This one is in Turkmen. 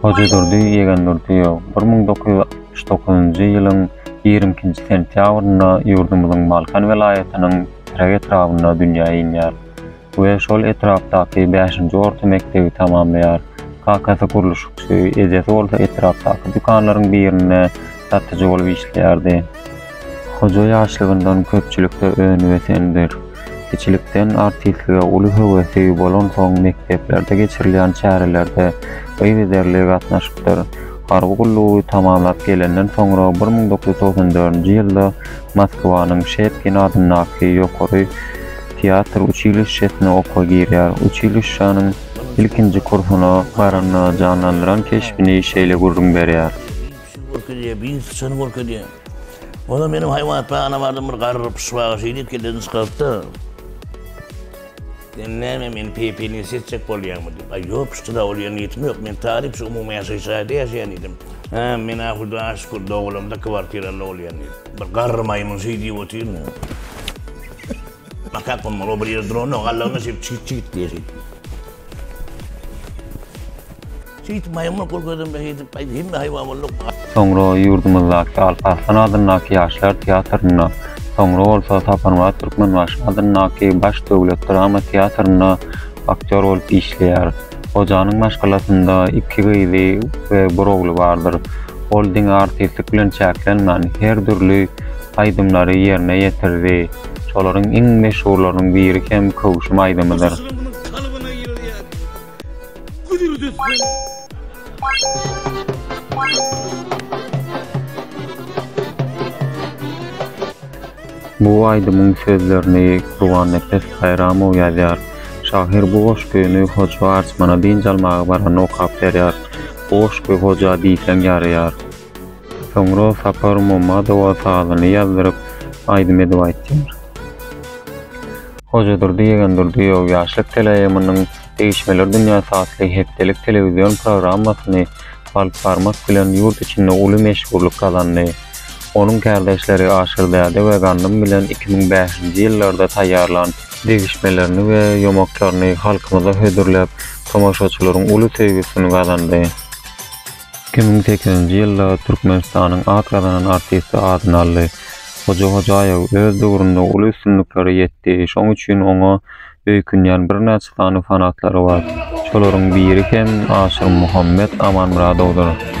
Hojadurdy Ýegendurdyýew bir müň dokuz ýüz altmyş dokuzynjy ýylyň ýigrimi ikinji sentýabrynda ýurdumyzyň Balkan welaýatynyň Trek etrabynda dünýä inýär we şol etrapdaky bäşinji orta mekdebi tamamlaýar. Kakasy gurluşykçy, ejesi bolsa etrapdaky dükanlaryň birinde satyjy bolup işleýärdi. Hoja ýaşlygyndan köpçülikde önibesendir. Kiçilikden artistlige uly höwesi bolansoň mekdeplerde geçirilýän çärelerde yzygiderli gatnaşypdyr. Harby gullugy tamamlap gelenden soňra bir müň dokuz ýüz togsan dördünji ýylda Moskwanyň Şepkin adyndaky ýokary teatr uçilişşesine okuwa girýär. Uçilişşäniň ilkinji kursuna baranda janlandyran keşbini şeýle gürrüň berýär. Görkezýär, biziňki syçany görkezýär. Onam meniň haýwanatbagana bardym, bir garry pyşbaga şeýdip kellesini çykarypdy. Sen näme, meni peýpelini seçjek bolýaňmy? diýip. Aý, ýok, pyşdyra bolýan niýetim ýok. Men talyp, şu umumy ýaşaýyş jaýda ýaşaýan diýdim. Hä, men-ä Hudaýa şükür, dogulamda kwartiraly bolýan diýdim. Bir garry maýmyn şeý diýip otyryn. Makak bolmaly, ol bir ýerde duranok, allagynda şeýdip çigit-çigit diýýär şeýdip. Şeýdip maýmyna gol gözlemde şeýdip aýdy hemme haýwan boldy. Soňra ýurdumyzdaky Alp Arslan adyndaky ýaşlar teatrynda, soňra bolsa Saparmyrat Türkmenbaşy adyndaky Baş döwlet drama teatrynda aktýor bolup işleýär. Hojanyň maşgalasynda iki gyzy we bir ogly bardyr. Ol diňe artistlik bilen çäklenmän, her dürli aýdymlary ýerine ýetirdi. Şolaryň iň meşhurlarynyň biri hem Köwşüm aýdymydyr. Bu aýdymyň sözlerini Gurbannepes Baýramow ýazýar. Şahyr bu goşgyny Hoja Arçmana dynç almaga baranda okap berýär. Bu goşgy Hoja diýseň ýaraýar. Soňra Sapar Momadowa sazyny ýazdyryp, aýdym edip aýtýar. Hojadurdy Ýegendurdyýew Ýaşlyk TLM-niň Degişmeler dünýäsi atly hepdelik telewizion programmasyny alyp barmak bilen ýurt içinde uly meşhurlyk gazandy. Onuň kärdeşleri Aşyrdäde we Gandym bilen iki müň bäşinji ýyllarda taýýarlan degişmelerini we ýomaklaryny halkymyza hödürläp, tomaşaçylaryň uly söýgüsini gazandy. Iki müň sekizinji ýylda Türkmenistanyň at gazanan artisti adyny aldy. Hoja Hojaýew öz döwründe uly üstünliklere ýetdi, şoň üçin oňa öýkünýän birnäçe sany fanatlary bar. Şolaryň biri hem Aşyrmuhammet Amanmyradowdyr.